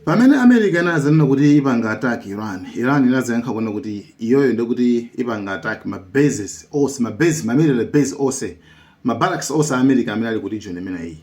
Pamene America inazanena kuti ipanga attack Iran, Iran inazayankha kunena kuti iyoyo ndiye kuti ipanga attack ma bases onse, ma base, ma military base onse, ma barracks onse a America amene ali ku region imeneyi.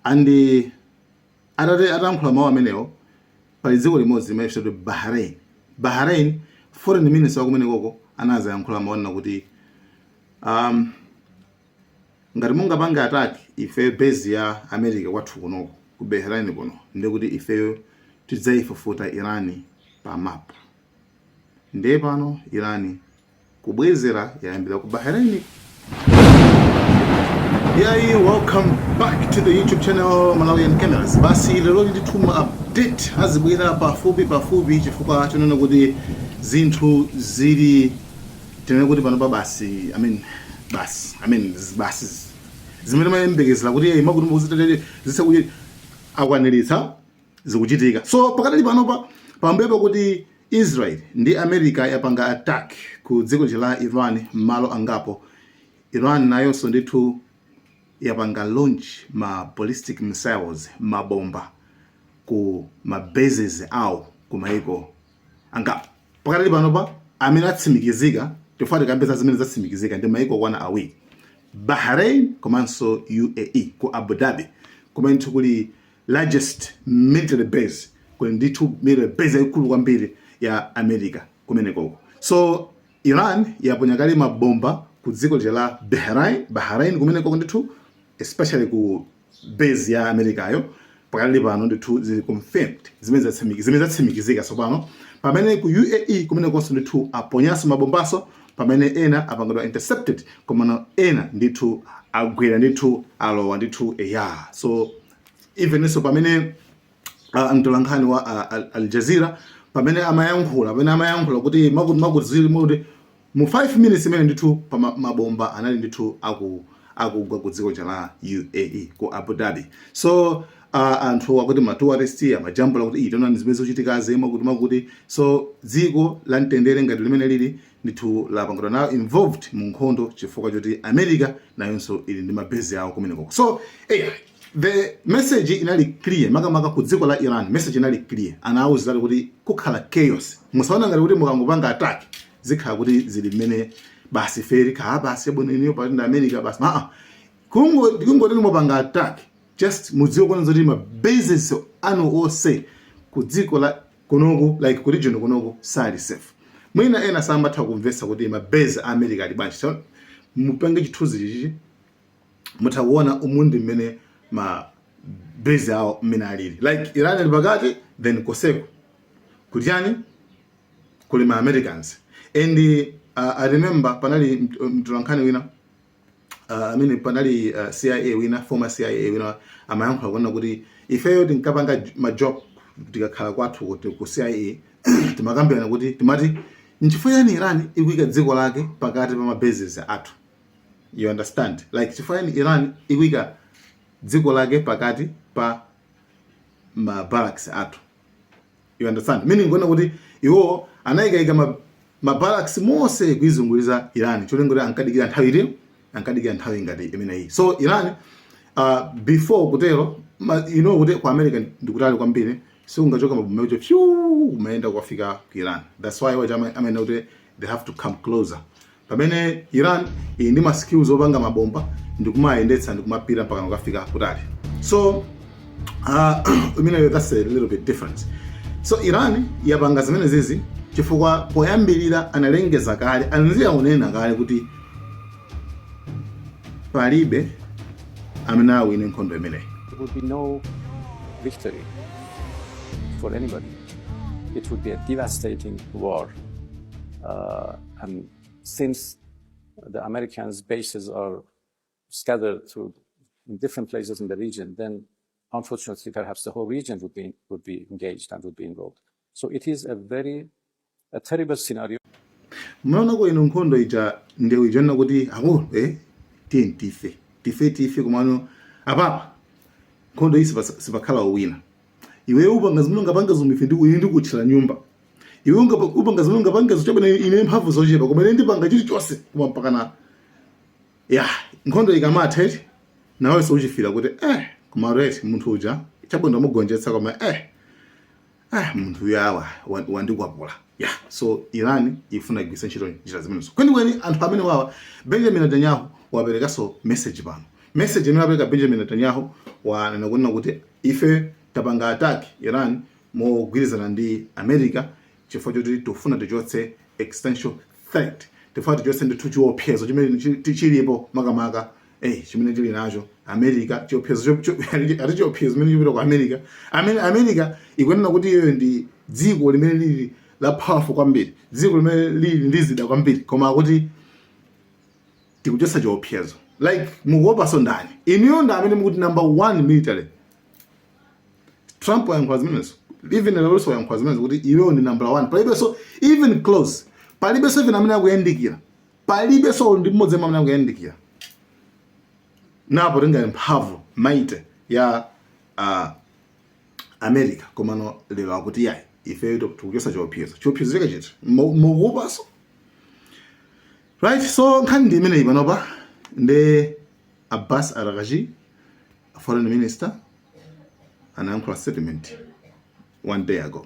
And atayankhula mawu amenewo, pali dziko limodzi limene likutchedwa Bahrain. Bahrain, foreign minister wa kumenekoko anazayankhula mawu anena kuti um, Ngati mungapange attack ifeyo base ya America kwathu kunoko ku Bahrain kuno ndiye kuti ifeyo tidzaifufuta Iran pa map. Ndiye pano Iran kubwezera yayambira ku Bahrain. Yeah, welcome back to the YouTube channel Malawian Cameras. Basi lero ndithu ma update azibwera pafupi pafupi chifukwa chonena kuti zinthu zili tinene kuti panopa basi i mean basi i mean zibasi zi- zimene imayembekezera kuti eh, zakuti zakuti zakuti akwaniritsa zikuchitika so pakadali panopa pambuyo pakuti israel ndi america yapanga attack ku dziko lija la iran m'malo angapo iran nayonso ndithu yapanga launch ma ballistic missiles mabomba ku ma bases awo ku maiko angapo pakadali panopa amene atsimikizika chifukwa tikambe za zimene zatsimikizika ndi maiko okwana awiri bahrain komanso uae ku abu dhabi kumene ndithu kuli largest military base kuli ndithu military base yaikulu kwambiri ya america kumenekoko so iran yaponya kale mabomba ku dziko lija la bahrain bahrain kumenekoko ndithu especially ku base ya amerikayo pakadali pano ndithu zili confirmed zimene zatsimikiz- zimene zatsimikizika tsopano pamene ku uae kumenekonso ndithu aponyanso mabombanso pamene ena apangidwa intercepted komano ena ndithu agwera ndithu alowa ndithu eya so evenso pamene uh, mtolankhani wa uh, Al- Al Jazeera pamene amayankhula pamene amayankhula kuti zakuti zakuti zili muti Mu 5 minutes imene ndithu pa ma mabomba anali ndithu aku akugwa ku dziko lija la UAE ku Abu Dhabi so uh, anthu akuti ma tourist amajambula kuti eti taonani zimene zikuchitikazi zakuti zakuti so dziko la mtendere ngati limene lili ndithu lapangidwa nayo involved mu nkhondo chifukwa choti America nayonso ili ndi ma base awo kumenekoko so eya The message inali clear makamaka ku dziko la Iran message inali clear anawauziratu kuti kukhala chaos musaone ngati kuti mukangopanga attack zikhala kuti zili mmene basi fe likhala basi bwino iniyo pali ndi America basi aa kungo kungoti mupanga attack just mudziwe kwanza kuti ma bases anu onse ku dziko la kunoku like ku region kunoku sali safe mwina ena samatha kumvetsa kuti ma base a America ali bwanji so mupange chithunzi chichi mutha kuona umu mmene ma base awo mmene alili like iran ali pakati then koseko kujeni kuli ma americans and uh, i remember panali mt- mtolankhani wina uh, amene panali uh, cia wina former cia wina amayankhula kunena kuti ifeyo tinkapanga j- majoke tikakhala kwathu ku cia timakambirana kuti timati nchifukwa yani iran ikuyika dziko lake pakati pa mabases athu you understand like chifukwa yani iran ikuika dziko lake pakati pa ma barracks athu you understand meaning kunena kuti iwo anayikaika ma, ma barracks mose kuizunguliza iran cholinga kuti ankadikira nthawi iti ankadikira nthawi ngati imeneyi so iran uh, before kutero ma, you know kuti ku america ndikutali kwambiri sikungachoka mabomba kuti fyu kumayenda kukafika ku iran that's why wati ama- amayenera kuti they have to come closer pamene iran ili ndi ma skills opanga mabomba ndikumayendetsa ndikumapita mpakana kukafika kutali so uh, imeneyo that's a little bit different so iran yapanga zimene zizi chifukwa poyambirira analengeza kale anadziwa kunena kale kuti palibe amene awine nkhondo imeneyi There would be no victory for anybody. It would be a devastating war. Uh, And since the Americans' bases are scattered through in different places in the region, then unfortunately, perhaps the whole region would be, would be engaged and would be involved. So it is a very, a terrible scenario. mnaonako ino nkhondo ija ndewu ija nna kuti akulu eh tiyeni tife tife tife komano apapa nkhondo iyi sipa- sipakhala owina iwe upanga zimene ungapange zomwe ife ndiku- ine ndikutchera nyumba iwe ungapa- upanga zimene ungapanga zochabwino ine mphamvu zochepa koma ine ndipanga chilichonse koma mpakana ya nkhondo ikamatha eti nawenso uchifila kuti eh koma right munthu uja chabwino ndamugonjetsa koma eh ah munthu uyu awa wa- wandikwapula ya so iran ifuna igwiritse ntchito njira zimenezo kwenikweni anthu amene wawa benjamin netanyahu waperekanso message pano Message imene apeleka Benjamin Netanyahu wanena kunena kuti ife tapanga attack Iran mogwirizana ndi America chifukwa choti tikufuna tichotse existential threat tifuna tichotse ndithu chiopsezo chimene chi- ti- chilipo makamaka eh chimene tili nacho America chiopsezo cho- cho- ali ali chiopsezo chimene chipita ku America amene America ikunena kuti iyoyo ndi dziko limene lili la powerful kwambiri dziko limene lili ndi zida zambiri koma akuti tikuchotsa chiopsezo like mukuopaso ndani inuyo ndi amene mukuti number one military trump wayankhula zimenezo even leloso wayankhula zimenezo kuti iwowo ndi number one palibenso even close palibenso even amene akuyandikira palibenso ndi mmodzi amene akuyandikira nako tingati mphamvu might ya uh, america komano lero akuti yayi ifeyo tikuchotsa chiopsezo chiopsezo chake chiti mukuopaso Right, so nkhani ndi imeneyi panopa ndi Abbas Araghchi foreign minister anayankhula statement one day ago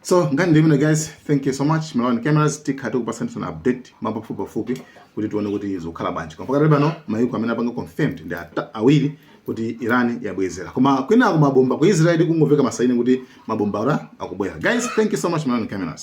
so nkhani ndi imeneyi guys thank you so much malawian cameras tikhala tikupatsanitsani update mwapafupipafupi kuti tione kuti zikukhala bwanji koma pakadali pano mayiko amene apanga confirmed ndi ata- awiri kuti iran yabwezera koma kwinako mabomba ku israel kungomveka masaini kuti mabomba uku akubwera guys thank you so much malawan cameras